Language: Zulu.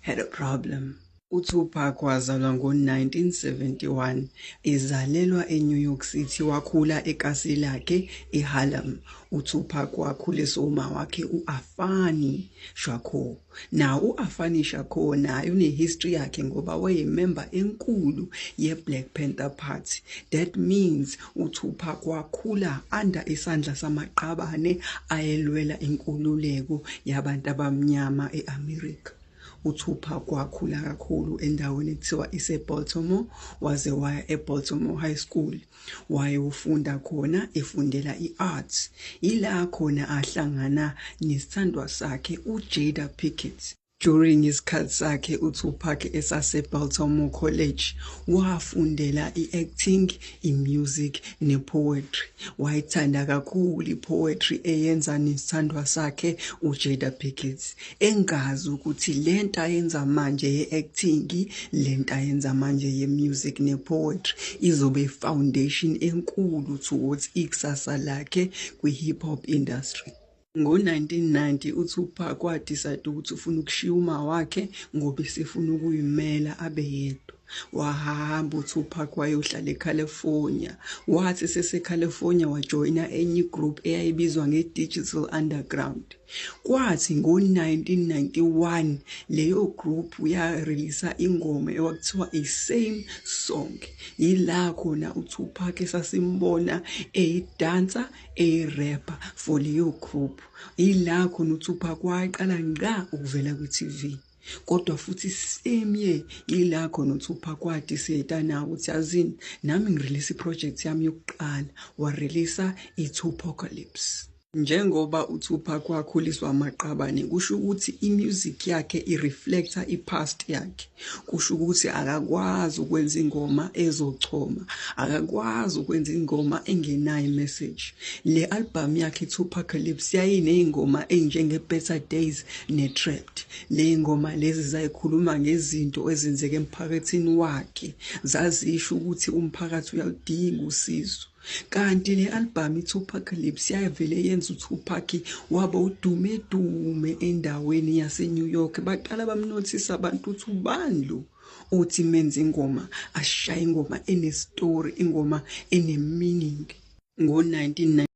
had a problem. UTupac wazalwa ngo-1971. Ezalelwa eNew York City, wakhula ekasi lakhe eHarlem. UTupac wakhuliswa umawakhe u-Afani Shakur. Nawo u-Afani Shakur naye unehistory yakhe ngoba wayememba enkulu ye-Black Panther Party. That means UTupac wakhula under isandla samaqabane ayelwela inkululeko yabantu abamnyama e-America. UTupac wakhula kakhulu endaweni ekuthiwa iseBaltimore waze waya eBaltimore High School wayofunda khona efundela i-arts. Yila khona ahlangana nesithandwa sakhe uJada Pinkett. During isikhathi sakhe uTupac esaseBaltimore College, wafundela i-acting, i-music ne-poetry. Wayithanda kakhulu i-poetry eyenza nesithandwa sakhe uJada Pinkett. Engazi ukuthi le nto ayenza manje ye-acting, le nto ayenza manje ye-music ne-poetry izobe i-foundation enkulu towards ikusasa lakhe kwi-hip hop industry. Ngo-1990 uTupac wadicayida ukuthi ufuna ukushiya umawakhe ngoba esefuna ukuyimela abe yedwa. Wahamba uTupac wayohlala eCalifornia. Wathi eseseCalifornia wajoyina enye igroup eyayibizwa ngeDigital Underground. Kwathi ngo-1991 leyo group yareleasa ingoma ekwakuthiwa i-Same Song. Yila khona uTupac esasimbona eyidansa eyirepa for leyo group yila khona uthupha kwaqala ngqa ukuvela kwi-tv kodwa futhi same year yila khona uthupha kwadi seta nawo ukuthi yazini nami ngirelease iproject yami yokuqala wareleasa i-tupocalypse Njengoba uTupac wakhuliswa amaqabane kusho ukuthi i-music yakhe i-reflecta i-past yakhe. kusho ukuthi akakwazi ukwenza ingoma ezochoma akakwazi ukwenza ingoma engenayo imessage le album yakhe Tupacalypse yayinezingoma ezinjenge Better Days ne Trapped le ngoma lezi zayikhuluma ngezinto ezenzeke emphakathini wakhe zazisho ukuthi umphakathi uyaludinga usizo kanti le albhamu i-tupacalypse yayivele yenza utupac waba udume dume endaweni yasenew york baqala bamnothisa abantu ukuthi ubani lo othi menza ingoma ashaye ingoma enestori ingoma enemeaning ngo-19